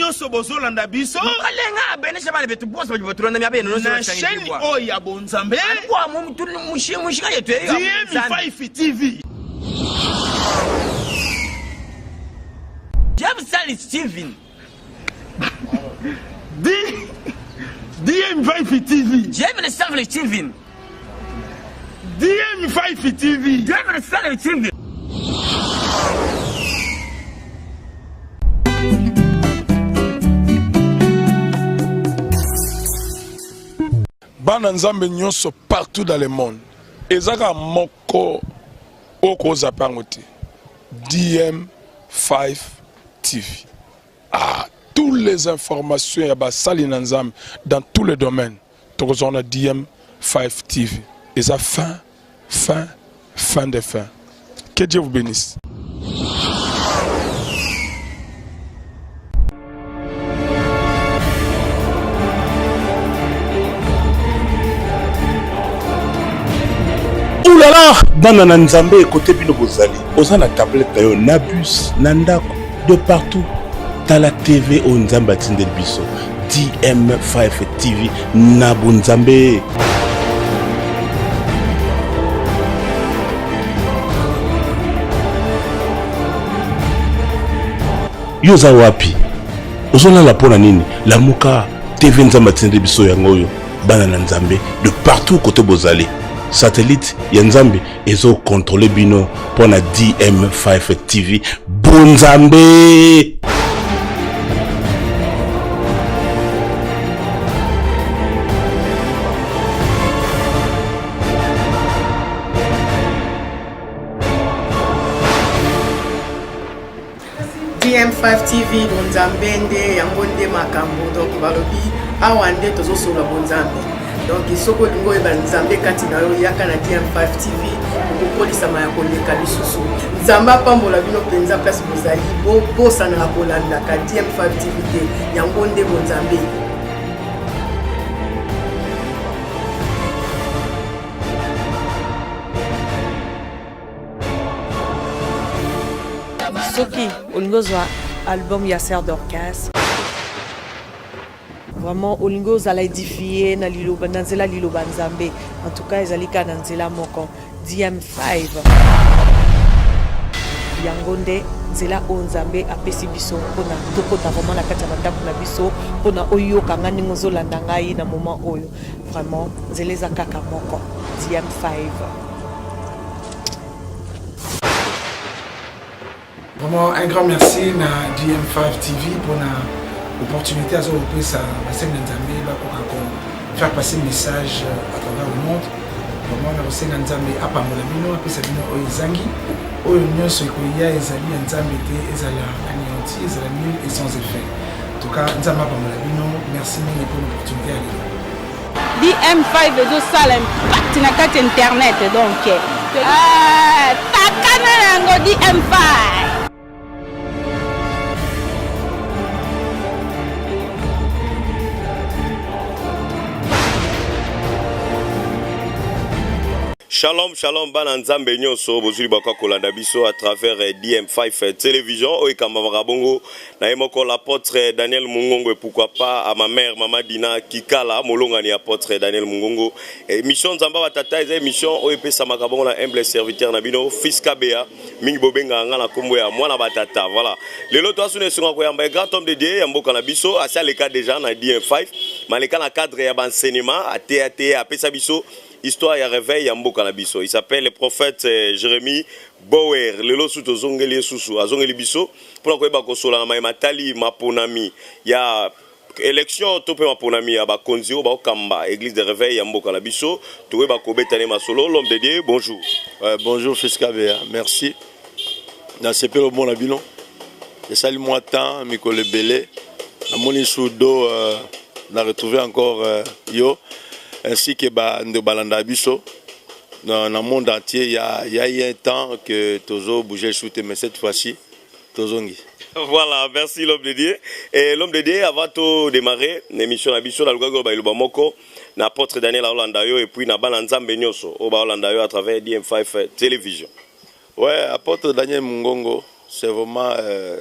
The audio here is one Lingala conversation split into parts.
nyonso bozolanda biso olenga abenesa bana betu bosi baji batulanda mya beno na chaîne oyo ya bonzambe alikuwa mushika yetu eyo dmi5 tv james charles steven DM Vifi TV. DM le sang le TV. DM Vifi TV. DM le sang le TV. bana nzambe nyonso partout dans le monde eza kaka moko okozapa yango te dm 5 TV. Ah, tous les informations ya basali na Nzambe dans tous les domaines. Tokozwa na DM5 TV. Eza fin, fin, fin de fin. Que Dieu vous bénisse. ulala bana na nzambe ekote bino bozali oza na tablete na yo na bus na ndako de partout tala tv oyo nzambe atindeli biso dm5 tv na bonzambe Yo oza wapi? Ozolala pona nini? Lamuka TV Nzambe atindi biso yango oyo bana na Nzambe de partout kote bozali. Satellite ya Nzambe ezo contrôler bino pona DM5 TV. Bon Nzambe! DM5 TV bonzambe nde yango nde makambo donc balobi awa nde tozosolola bonzambe donc soki olingi oyeba nzambe kati na yo yaka na DM5 TV okokolisama ya koleka lisusu nzambe apambola bino mpenza place bozali bobosanaka kolandaka DM5 TV te yango nde bonzambe soki olingi ozwa album ya ser dorcas vraiment olingi ozala edifie na liloba na nzela liloba nzambe en tout cas ezali kaka na nzela moko dm5 yango nde nzela oyo nzambe apesi biso mpona tokota vraiment na kati ya bandako na biso mpona oyoka ngai ndenge ozolanda ngai na moment oyo vraiment nzela eza kaka moko dm5 Vraiment un grand merci na GM5 TV pour na opportunité à ça, à Seigneur Nzambe, à faire passer le message euh, à travers le monde. Vraiment, na Seigneur Nzambe, à part mon ami, à puis c'est bien Oizangi, oyo nyonso ekoya ezali ya nzambe te ezala anéanti ezala nul et sans effet en tout cas nzambe apamola bino merci mingi pour l'opportunité ya lelo DM5 ezo sala impact na kati internet donc ah, takana yango DM5 shalom shalom bana nzambe nyonso bozwi libaka kolanda biso à travers eh, dm5 eh, télévision oyo ekambamaka bongo Na ye moko l'apotre Daniel Mungongo et pourquoi pas à ma mère maman Dina Kikala molongani apotre Daniel Mungongo. Emission Nzamba wa tata eza emission oyo epesamaka bongo na humble serviteur na bino Fils Kabeya mingi bobengaka nga na kombo ya mwana ba tata. Voilà. Lelo to asuna esunga koyamba un grand homme de Dieu ya mboka na biso asi aleka déjà na DN5 maleka na cadre ya ba enseignement ateya te apesa biso histoire ya réveil ya mboka na biso. Il s'appelle le prophète euh, Jérémie Bower. Lelo su tozongeli ye susu azongeli biso mpo na koyeba kosola na maye matali maponami ya election to mpe maponami ya bakonzi oyo baokamba eglise de reveil ya mboka na biso tokoyeba kobeta ne masolo l'homme de dieu bonjour euh, bonjour fils kabeya merci nasepeli omona bino esali mwa temps mikolo ebele namoni sur do euh, na retrouve encore euh, yo ainsi que bando balandaka biso na, na monde entier il y a, il y a eu un temps que tozo bouger chute mais cette fois-ci tozongi voilà merci l'homme de dieu et l'homme de dieu avant to démarrer l'émission na biso na lukaki ba iloba moko na apôtre daniel aolanda yo et puis na bana nzambe nyoso o baolanda yo à travers dm5 télévision ouais apôtre daniel mungongo c'est vraiment euh,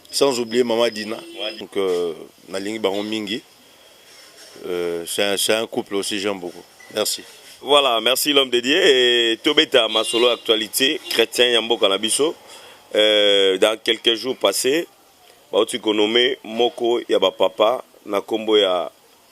sans oublier mama dina donc euh, nalingi bango mingi euh, c'est un, un couple aussi j'aime beaucoup merci voilà merci l'homme de dieu tobeta masolo actualité chrétien ya mboka na biso euh, dans quelques jours passés bauti konome moko ya bapapa na nkombo ya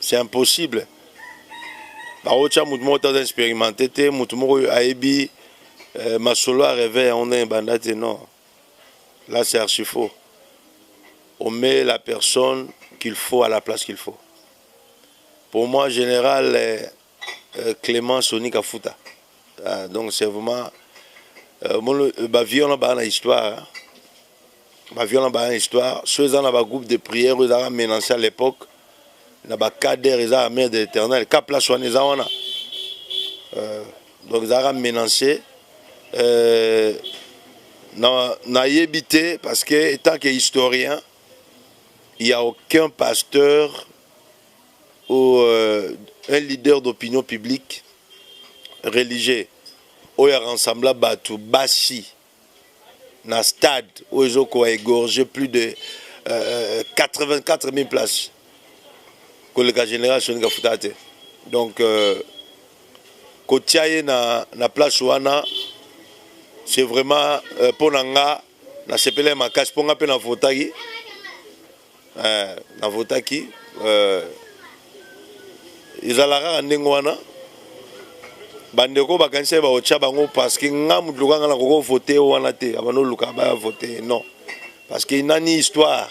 C'est impossible. Baocha mutu moko taza expérimenté te, mutu moko ayebi euh, masolo ya rêve yango ndenge banda te non. Là c'est archi faux. On met la personne qu'il faut à la place qu'il faut. Pour moi général euh, euh, Clément Sonic Afuta. Ah, donc c'est vraiment euh, mon, euh, ba vie on a ba na histoire. Hein. ba viol na ba histoire so eza na ba groupe de prière oyo ezalaka menance à l'époque na ba cadre eza mère de l'éternel ka place wana eza wana euh, donc ezalaka menance euh, nayebi te parce que étant que historien il n'y a aucun pasteur ou euh, un leader d'opinion publique religieux oyo aransamble bato basi na stade oyo ezokoka egorge plus de euh, 84 euh, 000 places koleka général soni kafuta te donc euh, kotia ye na, na place wana c'est vraiment mpo euh, na nga nasepelai makasi mpo nga mpe navotaki Eh, na votaki eh, ezalaka kaka ndenge wana bandeko bakanisaki baotya bango parce que nga moto loka nga nakoki ovote yo wana te abanda oluka baya vote non parce que inani histoire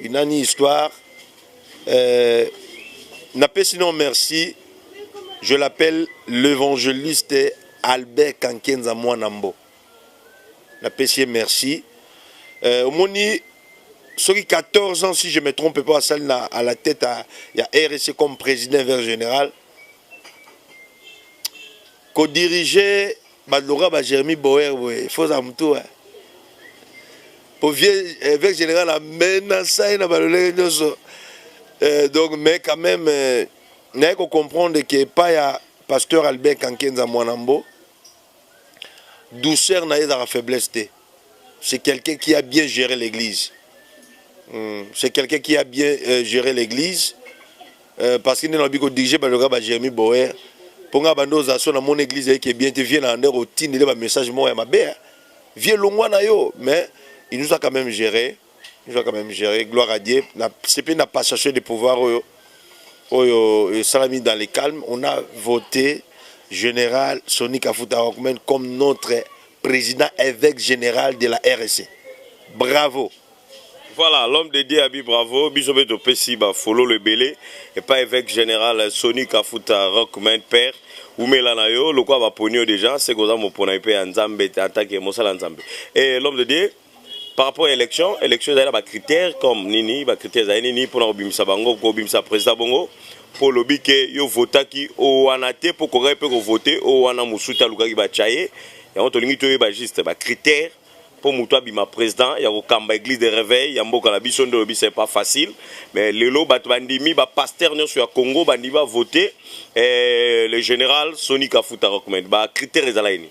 inani histoire euh, napesi non merci je l'appelle l'évangéliste albert kankenza mwana mbo na pesi ye merci euh, omoni soki 14 ans si je me trompe pas asali na à la tête à, ya RSC comme président vers général ko diriger baloka ba Jeremy Boer boye faut za mutu hein. po vieux eh, vers général amena sai na balolenge nyonso euh, donc mais quand même euh, naye ko comprendre que pas ya pasteur Albert Kankenza Mwanambo douceur na ye ezalaka faiblesse te c'est quelqu'un qui a bien géré l'église hmm, c'est quelqu'un qui a bien euh, géré l'église euh, parce que nde nalobi kodirige baloka ba jérémi boer mpo ngai banda oza so na mona église ayeke bien te vie na yande kotindele bamessage moko ya mabe vie longwa na yo mais il nous a quand même géré je vais quand même gérer gloire à Dieu na sepeli na passation de pouvoir oyo oyo esalami dans le calme on a voté général Sonic Afuta Rockman comme notre président évêque général de la RSC bravo voilà l'homme de Dieu abi bravo biso pe topesi ba fololo ebele epa évêque général Sonic Afuta Rockman père umela na yo lokola baponi yo déjà seke oza mopona mpe ya nzambe atake mosala ya nzambe e l'homme de Dieu par rapport à l'élection, l'élection est ba critères comme nini, ba critères est nini pour obimisa bango, pour obimisa président bongo, pour lobby que yo vota ki o wana te pour ko repe ko voter o wana musuta lukaki ba chaye, ya on tolingi to ba juste ba critères pour mutua bima président ya kokamba église de réveil ya mboka na biso ndo lobi c'est pas facile mais lelo bato bandimi ba pasteur nyonso ya Congo bandimi ba voter eh, le général Sony Kafuta recommande ba critères ezala nini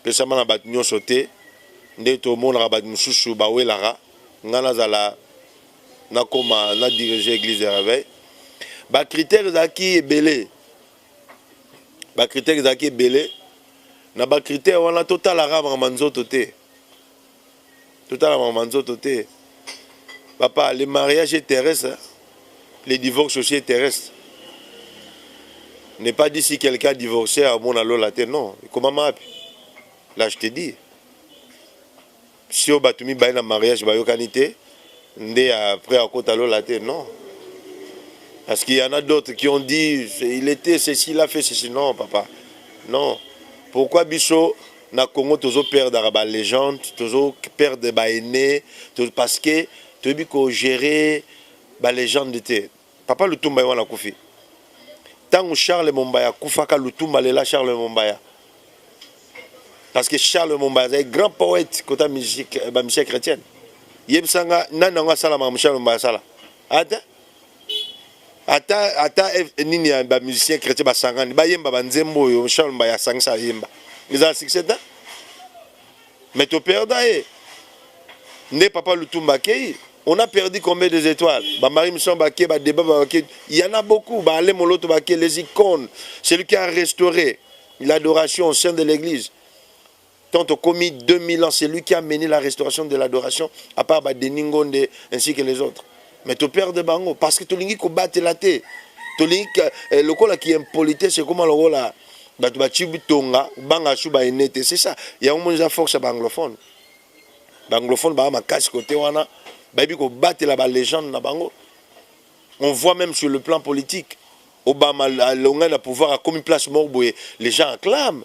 epesama na bato nyonso te nde tomonaka bato mosusu bawelaka ngai nazala nakoma na dirige église de réveil bacritère ezalaki ebele bacritère ezalaki ebele na bacritère wana totalaka makambo ya nzoto te totalamaka manzoto te papa le mariage est terrestre le divorce aussi est terrestre n'est pas dit si quelqu'un divorcé amona lola te non ekomama wapi là je te dis si oyo bato mibale na mariage bayokani te nde après akota lola te non parce qu'il y en a d'autres qui ont dit il était ceci il a fait ceci non papa non pourquoi biso Na congo tozo perdaka ba legende tozo perdre ba aine parce que toyebi ko gere ba legende te papa lutumba ye wana akufi ntango charles mombaya akufaka lutumba alela charles mombaya parce que charles mombaya azali grand poète kota bamisie chrétienne yebisanga nani yango asalamaka charles mombaya asala ata ata ata nini ya ba musiciens chrétiens basangani bayemba ba nzembo oyo Charles Mbaya asangisa ayemba ezala succès te mais to perda ye nde papa Lutumba akei on a perdu combien des étoiles ba Marie Mission bake ba débat bake il y en a beaucoup ba Alain Moloto bake les icônes celui qui a restauré l'adoration au sein de l'église Tant au commis 2000 ans, c'est lui qui a mené la restauration de l'adoration, à part Denis Ngonde ainsi que les autres. Mais tu perds de bango parce que tu lingi ko battre la te. Tu lingi eh, le cola qui impolité, c'est comment le cola batu ba chibu tonga, banga chuba enete, c'est ça. Il y a un monde force à banglophone. Banglophone ba ma casse côté wana, ba bi ko battre la ba légende na bango. On voit même sur le plan politique Obama, l'onga na pouvoir a commis place morboé, les gens acclament.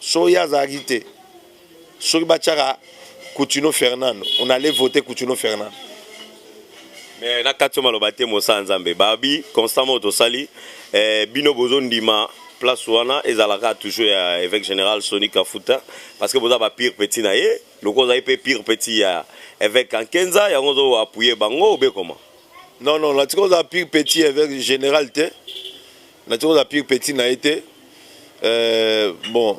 soki ye azalaki te soki batiaka Coutinho Fernando on allait voter Coutinho Fernando mais na kati maloba te mosala nzambe babi constamment oyo tosali eh, bino bozondima place wana ezalaka toujours ya évêque général soni kafuta parce que boza ba pire petit na ye lokola ozali mpe pire petit ya évêque kankenza yango ozo appuye bango obe comment non non natika oza pire petit évêque général te na tiko za pire petit na ye te euh, bon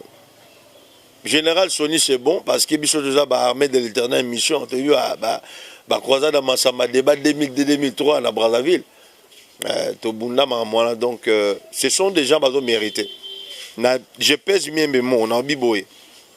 général soni c'est bon parce que biso toza baarmée de l'éternel mission toyebi bacroisade ya masamba débat 2002-2003 na brazzaville euh, tobunda makambo wana donc euh, ce sont des gens bazo mérité na je pèse miembe mo na obi boye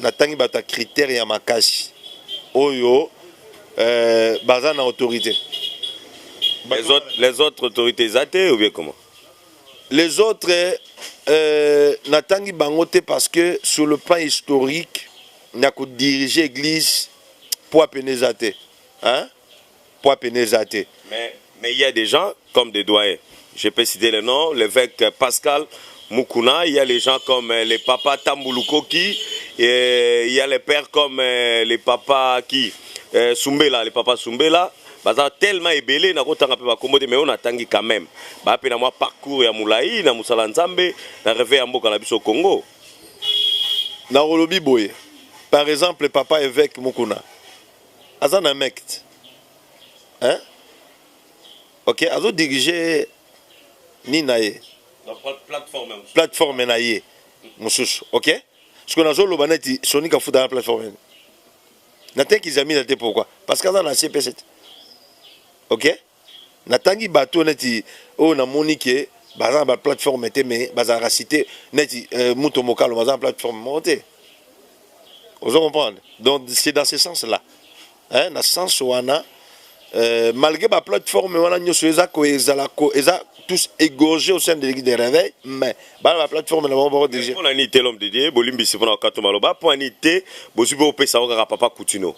natangi bato ya critère ya makasi oyo euh, baza na autorité les autres, les autres autorités eza te ou bien comment les autres euh, natangi bango te parce que sur le plan historique na kodirige église mpo apene eza te hein? poids pene eza te mais mais il y a des gens comme des doyens je peux citer le nom l'évêque Pascal Mukuna il y a les gens comme euh, les papas Tambulukoki et il y a les pères comme euh, les papas qui euh, Sumbela les papas Sumbela baza tellement ebele nakotanga mpe bakombo te mais oyo natangi quand même baa mpe na mwa parcours ya molai na mosala nzambe na reve ya mboka na biso congo nakolobi boye par exemple papa évêque mukuna aza na mect hein ok azo dirige ni na ye plateforme na ye mosusu ok siko nazoloba neti soni kafuta na plateforme ene natekizamina te pourquoi parce que aza na cpc te ok na tangi bato neti oyo na moni ke baza na ba plateforme te mais bazalaka cite neti euh, moto mokalo baza na plateforme moko te ozo comprendre donc c'est dans ce sens là hein, na sens wana euh, malgré ba plateforme wana nyonso eza ko ezala ko eza tous égorgés au sein de l'église de réveil mais bana ba plateforme na bango bako dirige mpona nini te l'homme de dieu bolimbisi mpona okato maloba mpo ani te bozwi bopesa yango kaka papa kutino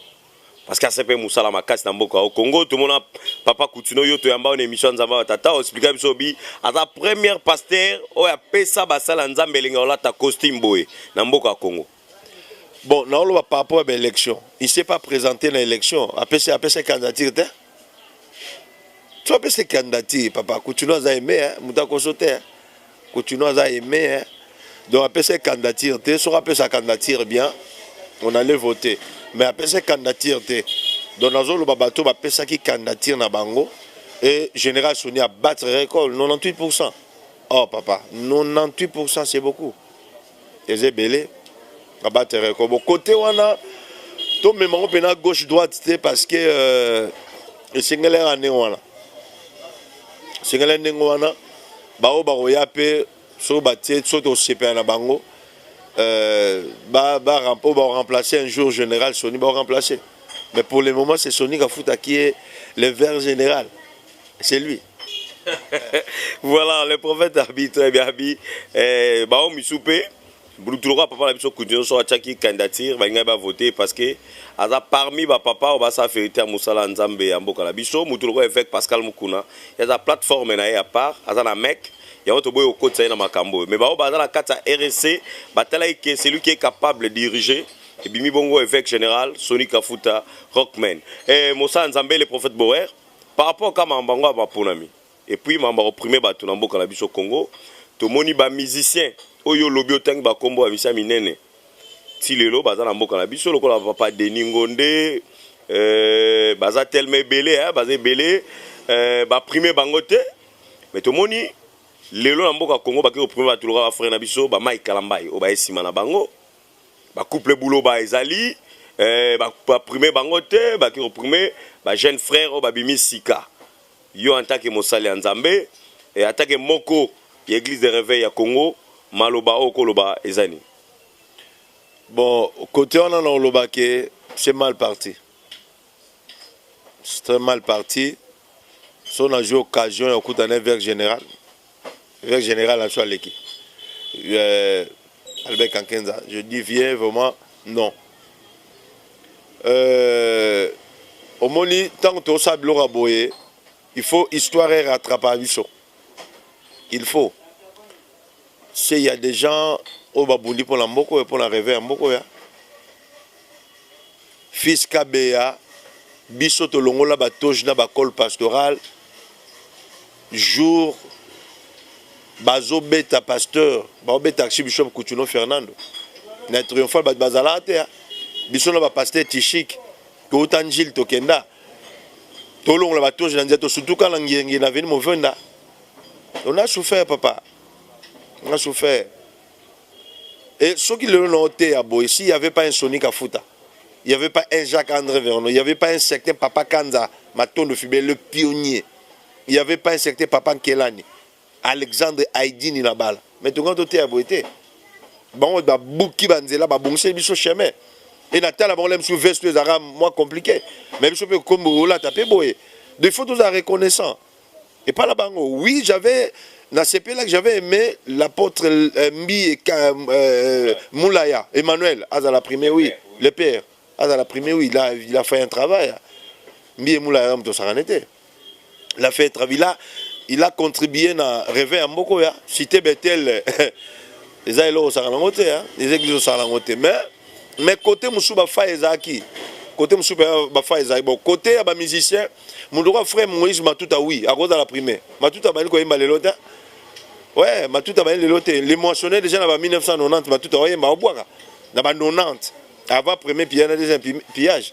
parce que asepeli mosala makasi na mboka o congo tomona papa kutino yo toyamba oyo na émission ya nzambe ya tata oexplika biso obi aza première pasteur oyo apesa basala ya nzambe elinga olata costume boye na mboka ya congo bon naoloba par rapport ya baélection il s'est pas présenté na élection apesa apesa candidature te so apesa candidature papa kutino aza aime moto akoso te Kotino aza aime hein? donc apesa candidature te soki apesa candidature bien on allait voter mais apesa candidature te donc nazoloba bato bapesaki candidature na bango et général soni abattre record 98 pourcent oh papa 98 pourcent c'est beaucoup eza ebele abatere ko bokote wana tomema ngo mpena gauche droite te parce que euh, esengeli yaka ndenge wana esengeli ndenge wana baoyo bakoya mpe soki batie soki tosepela na bango euh, oyo baremplace un jour général soni baremplace mais pour le moment c'est soni kafuta qui est le vert général c'est lui voilà le prophète abi très bien abi eh, bao misu mpe bulutu lokola papa na biso kutu nyonso atyaki candidature balingaki bavote parce que aza parmi bapapa oyo basala verité ya mosala ya nzambe ya mboka na biso motu lokola évêque pascal mokuna ye aza plateforme na ye ya part aza na mec yango toboyi kokotisa ye na makambo oyo mais baoyo baza na kati ya rsc batalaki ke celui qui est capable diriger ebimi bongo évêque général soni kafuta rockman eh, mosala nzambe le prophète boer par rapport kaka makambo yango ya maponami epuis makambo ya koprime bato na mboka na biso congo tomoni bamusicien oyo olobi otangi bakombo ya misia minene ti lelo baza na mboka na biso lokola papa denis ngonde euh, baza telema ebele eh, baza ebele euh, baprime bango te me tomoni lelo na mboka congo bake koprime bato lokola bafrere na biso bamai kalambai oyo baye nsima na bango ba couple buloba ezali eh, ba, ba prime bango te baki ko prime ba jeune frère oyo babimi sika yo en tant que mosali ya nzambe eh, en tant que moko ya église de réveil ya congo maloba oyo koloba eza nini bon kote wana na oloba ke c'est mal parti c'est très mal parti so na jeu occasion ya okuta na verre général Avec général na biso aleki. Euh, Albert Kankenza, je dis vieux vraiment non. Euh, omoni ntango tosala biloko ya boye il faut histoire erattrapa biso il faut se ya des gens oyo babundi mpo na mboka oyo mpo na reve ya mboka oyo fils kabeya biso tolongola batoge na bacole pastorale jour bazo beta pasteur bao beta archibishop kuchuno fernando na triomphal bato bazalaka te biso na bapasteur tishik touta njili tokenda tolongola batoji na nzela tosutuka na ngenge na veni movenda on a souffert papa on a souffert et soki lelo na oteya boye s'il y avait pas un sonic afuta il n'y avait pas un Jacques André Vernon, il n'y avait pas un certain Papa Kanza Matondo Fibé, le pionnier. il y avait pas un certain papa nkelani alexandre aidini na bala mais tokanga toteya boye te bango babuki banzela babongiseli biso chemin e natala bango la misu veste oyo ezalaka mwa compliqué mais biso mpe kombo olata mpe boye de faut tozala reconnaissant epai na bango oui j'avais nasepelaki j'avais aimé l'apôtre euh, mbi et, euh, euh, moulaya emmanuel azala premier oui le père azala premier oui il a, il a fait un travail mbi et moulaya moto osakane te la fête Travila il a contribué na reve ya mboko ya cité Bethel eza eloko osaka nango te eza eglise osaka nango te mais mais côté mosusu bafai ezalaki côté mosusu bafai ezalaki bon côté ya bamusicien moto okoa frère moïse matuta oui akozala prime matuta abandi koyemba lelo te ouais matuta abandi lelo te le moissonne déjà na ba 1990 matuta oyemba obwaka na ba 90 avant premier pillage na deuxième pillage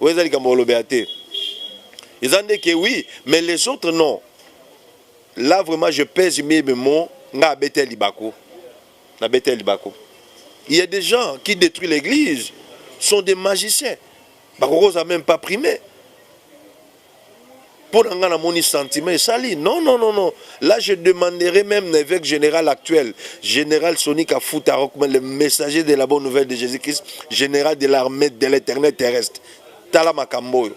oyo eza likambo olobela te eza nde ke oui mais les autres non là vraiment je pèse mes mots nga abeta libaku na beta libaku il y a des gens qui détruisent l'église sont des magiciens bakokoza même pas primer Pour nga namoni sentiment et sali. Non non non non. Là je demanderai même l'évêque général actuel, général Sonic Afuta Rockman le messager de la bonne nouvelle de Jésus-Christ, général de l'armée de l'éternel terrestre. Tala makambo.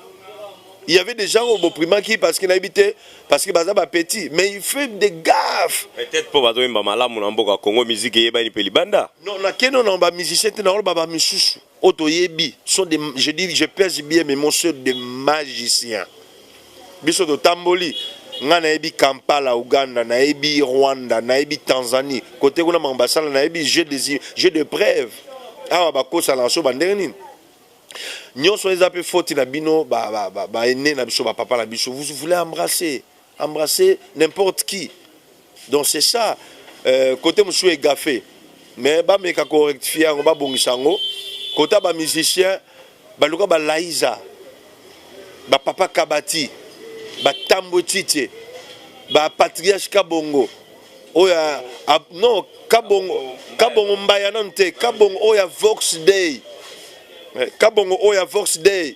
Il y avait des gens au Boprimaki parce qu'il habitait parce que baza ba petit mais il fait des gaffes. Peut-être pour bazo imba malamu na mboka Congo musique yebani pe libanda. Non na keno na ba musicien te na ba ba misusu. oyo toyebi sont des je dis je pèse bien mais monsieur de magicien biso totamboli ngai nayebi kampala uganda nayebi rwanda nayebi tanzanie kote kuna makambo basala nayebi jeu des jeu de preuve awa bakosala na so bandenge nini nyonso eza mpe foti na bino baene ba, ba, ba, na biso bapapa na biso vous voulez embrasser Embrasser n'importe qui donc c'est ça euh, cote mosusu egafe mais bameka korectifie yango babongisa yango kota bamusicien baluka balaiza bapapa kabati batambwe titie bapatriage kabongo oyo non kabongo kabongo mbaya nanu te kabongo oyo ya vox day eh, kabongo oyo ya vox day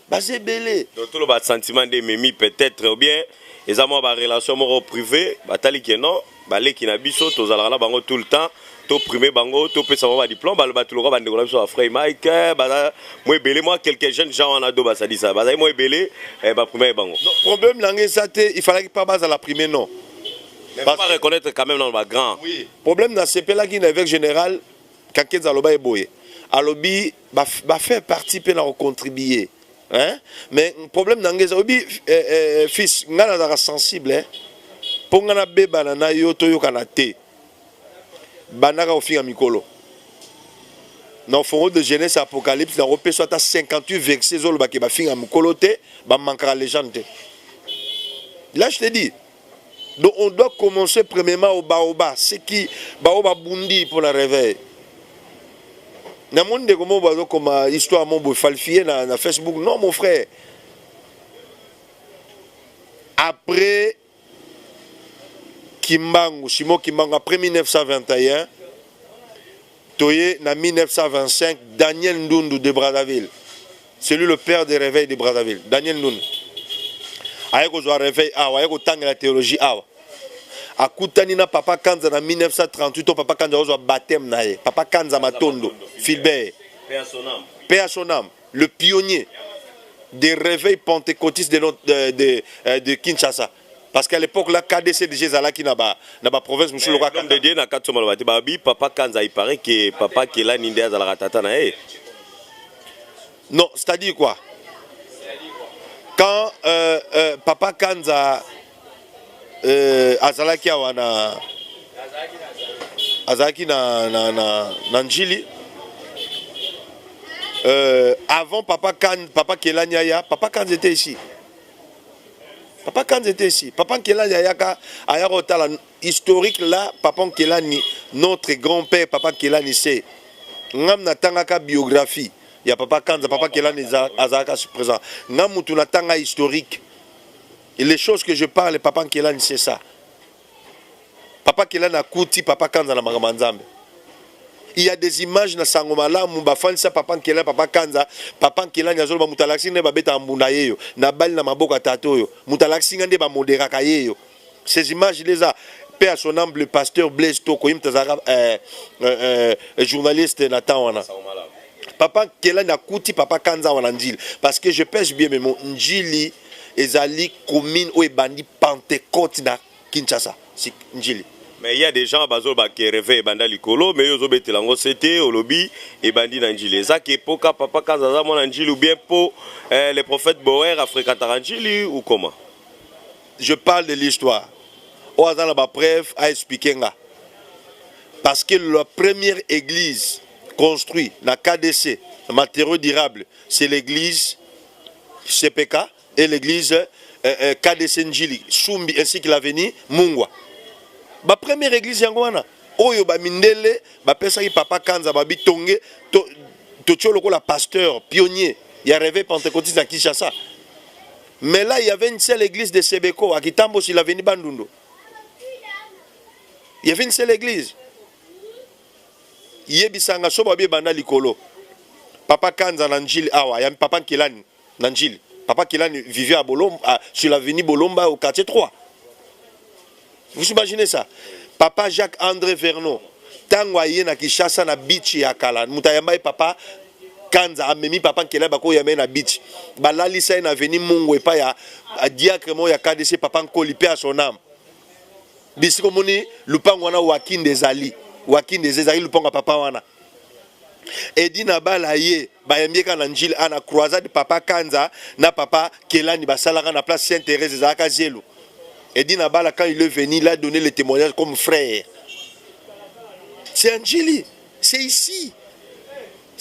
baza ebele donc toloba sentiment nde ememi peut-être ou bien eza mwa barelation moko privé batali ke non baleki na biso tozalaka na bango tout le temps toprime bango topesa bango badiplome bato lokola bandeko na biso ya frey mike eh, baza mwa ebele mwa quelques jeunes gens wana do basalisa bazali mwa ebele eh, baprimaki bango problème na ngai eza te ifalaki mpa bazala prime non bareconnaitre quand même nano bagrand problème nasepelaki na évêque général kakenza aloba ye boye alobi ba ba faire partie pe na ko contribuer hein mais problème na ngeza obi eh, eh, fils nga na zaka sensible hein po nga na beba na na yo to yokana te banaka ofinga mikolo na ofongo de jeunesse apocalypse na kopesa ata 58 verset ezoloba ke bafinga mikolo te bamankaka legende te là je te dis Donc on doit commencer premièrement au baoba, ce qui baoba bundi pour la réveil. Na mon ndeko mo bazo comme histoire mo bo falsifier na, na Facebook. Non mon frère. Après Kimbangu, Simon Kimbangu après 1921 Toye na 1925 Daniel Ndundu de Brazzaville celui le père de réveil de Brazzaville Daniel Ndundu aye kozwa réveil awa aye kotangela théologie awa akutani na papa Kanza na 1938 to papa Kanza ozwa baptême na ye papa Kanza Matondo Filbert Père Sonam le pionnier des réveils pentecôtistes de, de, de, euh, de Kinshasa Parce qu'à l'époque, la KDC déjà Zalaki na ba na ba province musulo kwa kanda. Ndede na katso maloba te babi papa Kanza il paraît que papa Kela ninde azalaka tata na ye. Non, c'est-à-dire quoi Quand euh, euh, papa Kanza euh, azalaki awa na azalaki na na na, na Njili euh, avant papa Kan papa Kela Nyaya, papa Kanza était ici. papa kanza ete esi papa nkelani ayaka ayaka otala historique la papa nkelani notre grand père papa nkelani se ngam natangaka biographie ya papa kanza papa nkelani azalaka présent nga mutu natanga historique les choses que je parle papa nkelani c'est ça papa kela na kuti papa kanza na makambo ya nzambe il y a des images na sango malamu bafandisa papa nkela papa kanza papa nkelani azoloba moto alakisi nde babetaka mbunda ye yo nabali na maboko ya tata oyo moto alakisi nga nde bamoderaka ye yo ces images nde eza mpe ya son amble pasteur blaise toko ye moto azalaka eh, eh, eh, journaliste na temps wana papa nkela nakuti papa kanza wana njili parce que je pèse bien memo njili Ezali commune oyo ebandi pentecote na Kinshasa Ndjili. Mais il ya des gens bazo ba que reveil ebanda likolo mais yo ozo betela yango sete olobi ebandi na Ndjili. Eza ke po ka papa Kanza aza mwana Ndjili ou bien po eh, le prophète Boer a fréquentaka Ndjili ou comment? Je parle de l'histoire. Oyo aza na ba preuves a expliquer nga. Parce que la première église construite na KDC, matériaux durables, c'est l'église CPK et l'église euh, euh, KDC Njili, Sumbi ainsi que l'avenue Mungwa. Ba première église yango wana oyo ba mindele ba pesaki papa Kanza ba bitonge to to tio lokola pasteur pionnier ya réveil pentecôtiste à Kinshasa. Mais là il y avait une seule église de Sebeko à Kitambo sur l'avenue Bandundu. Il y avait une seule église. yebisanga so babi ebanda likolo papa kanza na njili awa ya papa nkelani na njili papa kelani vivait à bolomba à, sur l'avenue bolomba au quartier 3 vous imaginez ça papa jacques andré vernon ntango aye na kinshasa na bichi ya kala moto ayamba ye papa kanza amemi papa nkelani bakoyamba ye na bichi balalisa ye na avenue mungu epai ya diacre moko ya kdc papa nkoli mpe ya son ame bisika omoni lupango wana wakinde ezali wakinde eza ezali lupango ya papa wana edi na bala ye bayambieka na njili ana ah, croisade papa kanza na papa kelani basalaka na place saint thérèse ezalaka zelo edi na bala quand il est venu il a donné le témoignage comme frère c'est anjili c'est ici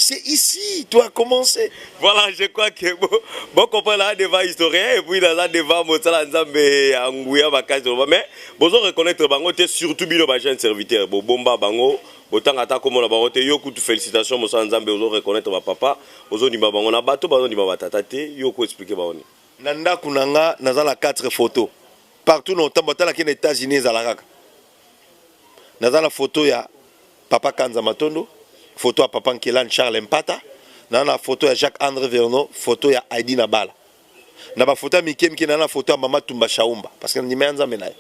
C'est ici, tu as commencé. Voilà, je crois que bon, bon comprendre là devant historien et puis là devant Motsala Nzambe ya Nguya Bakazi mais bon on reconnaître bango te surtout bino ba jeunes serviteurs bo bomba bango botanga ata komona bango te yo kutu félicitations Motsala Nzambe ozo reconnaître ba papa ozo ndima bango na bato bazo ndima ba tata te yo ko expliquer bango ni na ndako na nga naza na 4 photos partout na otambo ata na kende États-Unis ezalaka naza na foto ya papa kanza matondo foto ya papa nkelani charles mpata naza na foto ya jacques andre verno foto ya aidi na bala na bafoto ya mike mike naza na foto ya mama tumba shaumba parce que nandima ya nzambe na ye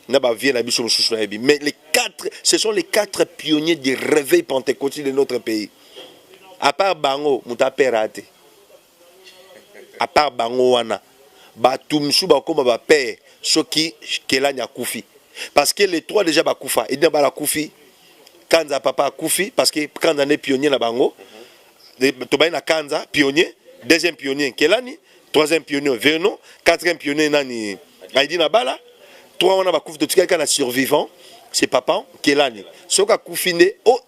na bavie na biso mosusu nayebi mais les quatre ce sont les quatre pionniers du réveil pentecôtiste de notre pays à part bango moto apera te à part bango wana batu misusu bakoma ba père soki kelani akufi parce que les trois déjà bakufa edina bala akufi kanza papa akufi parce que kanza nde pionnier na bango tobandi na kanza pionnier deuxième pionnier kelani troisième pionnier vernon quatrième pionnier nani aidina bala trois wana bakufi totikali kaka na survivant c'est papa kelani soki akufi nde oh,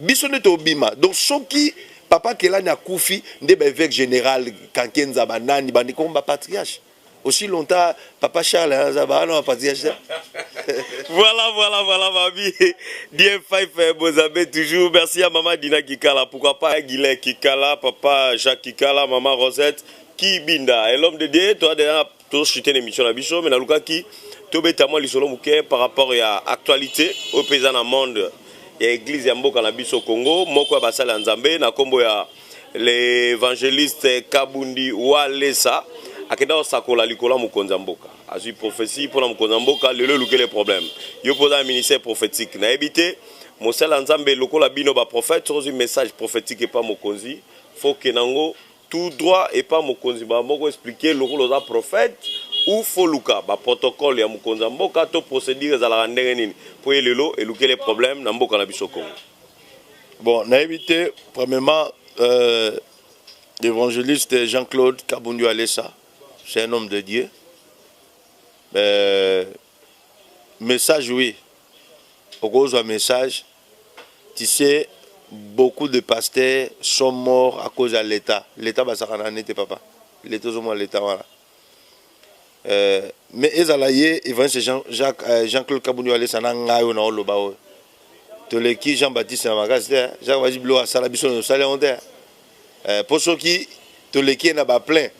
Biso nde tobima donc soki papa Kelani akufi nde ba evêque general Kankenza ba nani bandi comme ba patriarche aussi longtemps papa Charles aza ba na patriarche voilà voilà voilà mami Dieu Fife eh, Bozabe toujours merci à maman Dina Kikala pourquoi pas Guilain Kikala papa Jacques Kikala maman Rosette Kibinda et l'homme de Dieu toi déjà To suite na emission na biso mais nalukaki tobeta mwa lisolo moke par rapport ya actualité oyo mpe eza na monde ya eglise ya mboka na biso Congo moko ya basali ya Nzambe na nkombo ya l'évangéliste Kabundi Walesa akenda kosakola likolo ya mokonzi ya mboka azwi prophetie mpo na mokonzi ya mboka lelo elukele problème yo mpo oza na ministère prophétique nayebi te mosala ya Nzambe lokola bino baprophète soki ozwi message prophétique epa mokonzi foke nango tout droit epa mokonzi mbala moko explique ye lokola oza prophète ou faut luka ba protocole ya mokonzi ya mboka to procedure ezalaka ndenge nini po ye lelo elukele problème na mboka na biso Congo bon nayebi te premièrement euh, l'évangéliste Jean-Claude Kabundu Alessa c'est un homme de Dieu euh, message oui okozwa message tu sais beaucoup de pasteur sont mort à cause ya leta leta basakana nete papa leta ozomona leta wana euh, mais ezala ye evangeliste jean, jacques, euh, jean claude kabundu alesa na ngai oyo naoloba oyo toleki jean baptiste na makasi te jacques bazi bilo asala biso nosali yango te eh, po soki toleki ye na ba plein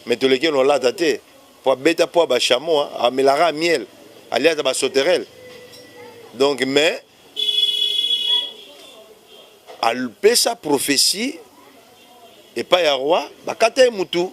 mais toleki ye na olata te po abeta po ya ba chameau amelaka miel aliata ba sauterelle donc mais apesa prophetie epai ya roi bakata ye mutu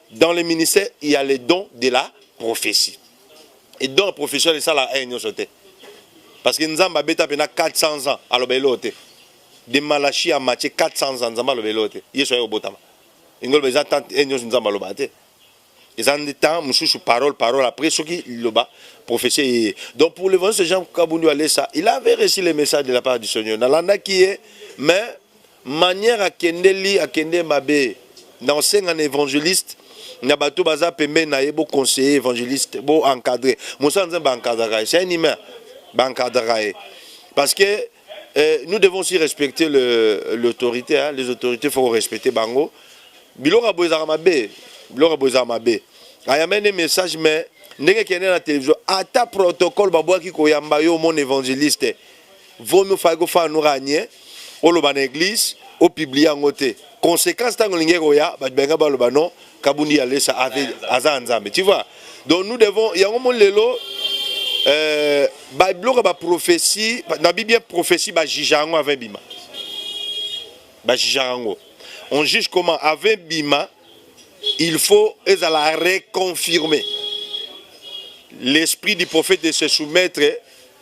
dans le ministère il y a le don de la prophétie et don ya prophétie wana esalaka aye nyonso te parce que nzambe abeta mpena 400 ans aloba eloo te de malachi ya matie 400 ans nzambe aloba eloo te yesu aye kobotama lingi oloba eza temps aye nyonso nzambe alobaka te eza nde temps mosusu parole parole après soki liloba prophétie eye donc pour le ce jean kabundi alesa il avait reçu le message de la part du seigneur nalandaki ye mais Manière akende li akende mabe donc senga na evangeliste na bato baza pembeni na ye bo conseiller evangeliste bo encadrer mosala nzambe ba encadraka ye c'est un humain ba encadraka ye parce que eh, nous devons aussi respecter l'autorité hein, les autorités faut respecter bango biloko boye ezalaka mabe biloko boye ezalaka mabe ayamene message mais ndenge ekende na télévision ata protocole babwaki koyamba yo mon évangéliste vaut mieux fallait kofana no ranie oloba na église opublie yango te conséquence ntango olingi ekoya bato balinga baloba non kabundi ya lesa aza ya nzambe tu vois donc nous devons yango moni lelo euh, babiloko ya baprophétie nabi bien prophétie bajija yango avant ebima bajija yango on juge comment avant ebima il faut ezala reconfirmer l'esprit du prophète de se soumettre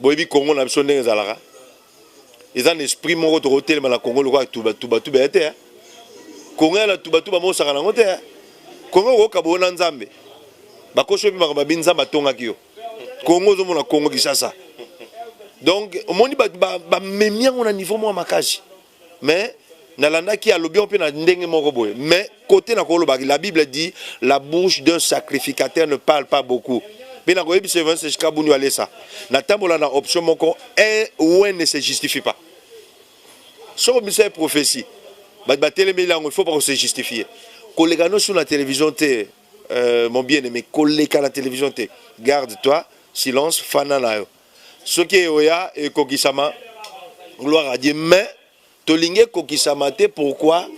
boyebi congo na biso ndenge ezalaka eza na esprit moko tokotelema na congo lokola tubatubatuba ya te eh. congo ya na tubatuba mosaka nango te eh. congo okokaba ona nzambe bakosi oyebi makambo abi nzambe atongaki yo congo ozomona congo kisasa donc omoni bamemi yango na niveau moko ya makasi mais nalandaki alobi yango mpe na ndenge moko boye mais kote na kolobaki la bible dit la bouche d'un sacrificateur ne parle pas beaucoup mpe nakoyebisa evangeliste chikabundu alesa natambola na option moko un ou un ne se justifie pas soki obimisa ye prophetie bato batelemeli yango il faut pas kose justifie koleka nosu na télévision te euh, mon bien aimé koleka na télévision te garde toi silence fana na yo soki eoya ekokisama gloire à Dieu mais tolingi ekokisama te pourquoi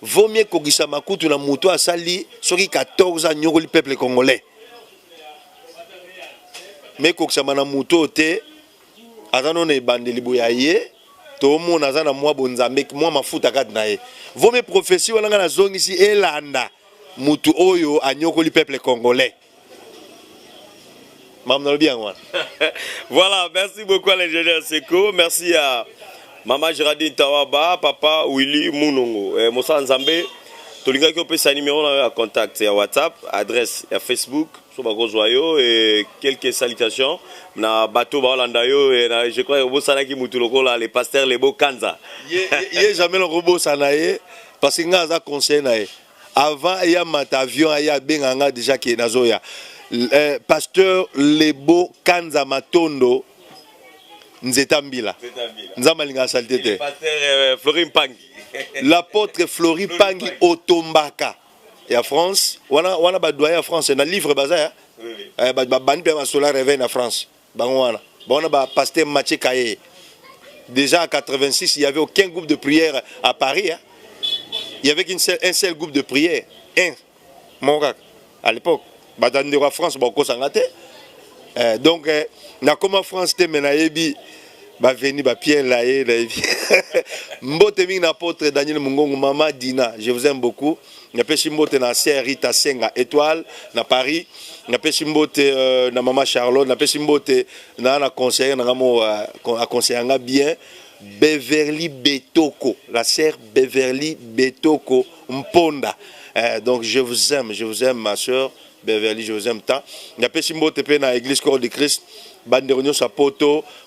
vaut mieux ekokisama kutu na moto asali soki 14 anyokoli peuple congolais me ekokisama na moto oyo te aza no na ebandeli boye aye tomona aza na mwa bonzambe mwa mafuta kati na ye vaut mieux prophesie wana ngai nazongisi elanda moto oyo anyokoli peuple congolais makambo nalobi yango wana voilà merci beaucoup à l'ingénieur seko merci à mama geraldine tawaba papa willy munongo eh, mosala nzambe tolingaki opesa numero na yo ya contact ya whatsapp adresse ya facebook so bakozwa yo e quelque salutation na bato baolanda yo e na, je crois obosanaki motu lokola le pasteur lebo kanza ye, ye, ye jamais nakobosana ye parce que ngai aza conseil na ye Avant ya mata avion aya benga nga deja ke nazoya. Euh, pasteur Lebo Kanza Matondo Nzeta Mbila. Nzamba linga salite te. Pasteur euh, Flori Mpangi. L'apôtre Flori Mpangi Otombaka ya France. Wana wana ba doyen ya France na livre baza ya. Oui, oui. Eh, ba bandi pe ba sola reve na France. bango wana bango na ba pasteur Mathieu Kaye déjà en 86 il y avait aucun groupe de prière à Paris hein? il y avait qu'un seul, un seul groupe de prière un mon kaka à l'époque bato ya ndeko ya France bakokosanga te eh, donc eh, nakoma France te me nayebi baveni bapierre laye nayebi mbote mingi na apotre daniel mongongo mama dina je vous aime beaucoup napesi mbote na sœur Rita Senga Etoile na Paris napesi mbote euh, na mama Charlotte napesi mbote na na conseiller na ngamo euh, a conseiller nga bien Beverly Betoko la sœur Beverly Betoko Mponda euh, donc je vous aime je vous aime ma sœur Beverly je vous aime tant napesi mbote pe na église corps de Christ bandeko nyonso ya poto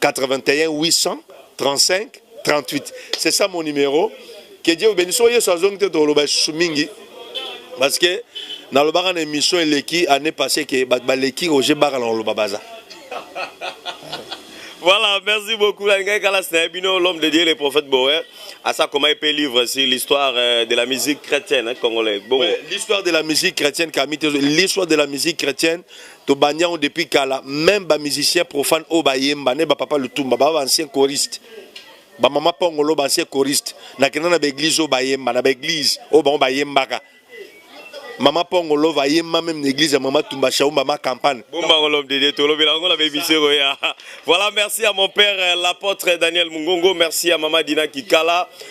81 835 38 c'est ça mon numéro que dieu obeni so yesu azongi te tokoloba lisusu mingi parce que nalobaka na émission eleki année passé ke bato baleki roger baka na koloba baza Voilà, merci beaucoup. L'homme de Dieu, le prophète Boer, à ça comment il peut livre sur l'histoire euh, de la musique chrétienne hein, congolaise. Bon. Ouais, l'histoire de la musique chrétienne, l'histoire de la musique chrétienne, To bandi yango depuis kala meme ba musiciens profanes oyo ba yemba ne ba papa lutumba ba ba anciens choristes ba mama pongolo ba anciens choristes na kenda na ba église oyo ba yemba na ba église oyo bango ba yembaka Mama Pongo Love ayemba même na église ya Mama Tumba Shaumba ma campagne. Bomba Love de Dieu tolobela ngo na bebisio koya. Voilà, merci à mon père euh, l'apôtre Daniel Mungongo, merci à Mama Dina Kikala.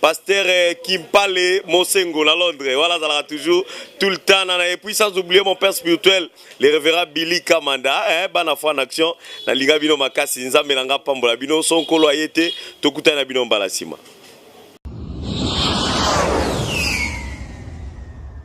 Pasteur euh, Kimpale Mosengo na Londres, voilà Zala toujours tout le temps nana et puis sans oublier mon père spirituel, le révérend Billy Kamanda, hein, bana foi en action, na linga bino makasi, nzambe nanga pambola bino, son kolo ayete, tokuta na bino mbala sima.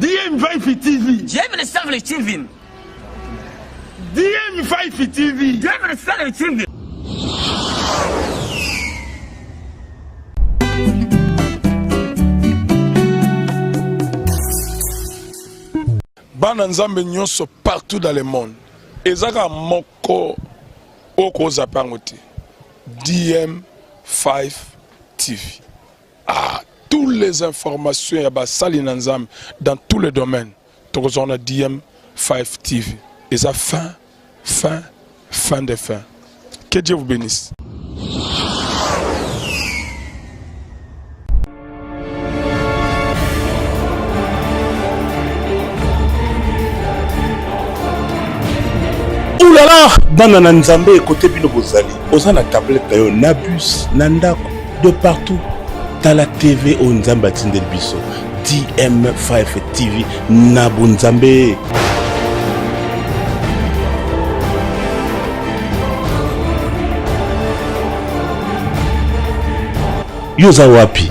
DM Vibe TV. DM ne savent les TV. DM Vibe TV. DM ne savent les TV. bana nzambe nyonso partout dans le monde eza kaka moko okozapa yango te dm 5 TV. Ah, tous les informations ya basali na Nzambe dans tous les domaines. Tokozwa na DM5 TV. Eza fin, fin, fin de fin. Que Dieu vous bénisse. oulala bana na nzambe ekote bino bozali oza na tablete na yo na bus na ndako de partout tala tv oyo nzambe atindeli biso dm5 tv na bonzambe yo oza wapi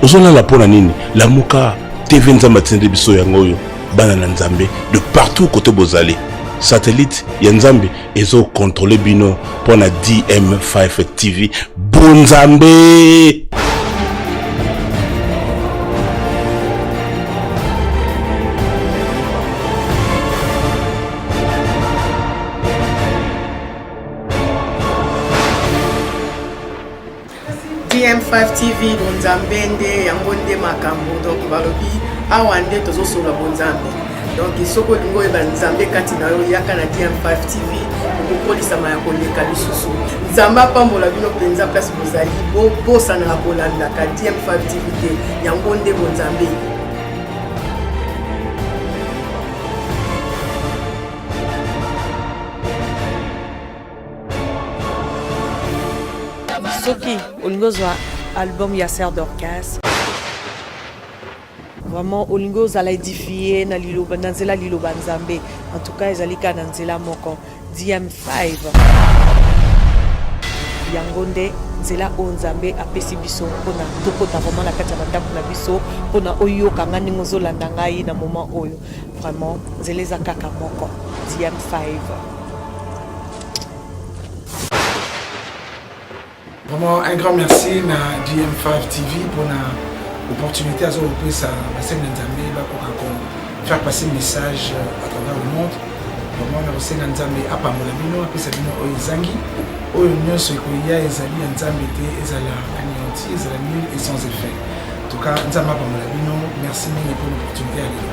ozolala mpo na nini lamuka tv nzambe atindeli biso yango oyo bana na nzambe de partout kote bozali satellite ya nzambe ezokontrole bino mpo na dm5 tv bonzambe DM5 TV bonzambe nde yango nde makambo donc balobi awa nde tozosolola bonzambe donc soki olingi oyeba nzambe kati na yo yaka na DM5 TV okokolisama ya koleka lisusu nzambe apambola bino mpenza place bozali bobosanaka kolandaka DM5 TV te yango nde bonzambe soki olingi ozwa album ya ser dorcas vraiment olingi ozala edifie na liloba na nzela liloba nzambe en tout cas ezali kaka na nzela moko dm5 yango nde nzela oyo nzambe apesi biso mpona tokota vraiment na kati ya bandako na biso mpona oyoka ngai ndenge ozolanda ngai na moment oyo vraiment nzela eza kaka moko dm5 Vraiment un grand merci na GM5 TV pour na opportunité à ce que ça va se mettre en faire passer le message euh, à travers le monde. Vraiment na osenga nzambe apambola bino apesa bino oyo ezangi oyo nyonso ekoya ezali ya nzambe te ezala anéanti ezala nul et sans effet en tout cas nzambe apambola bino merci mingi pour l'opportunité ya lelo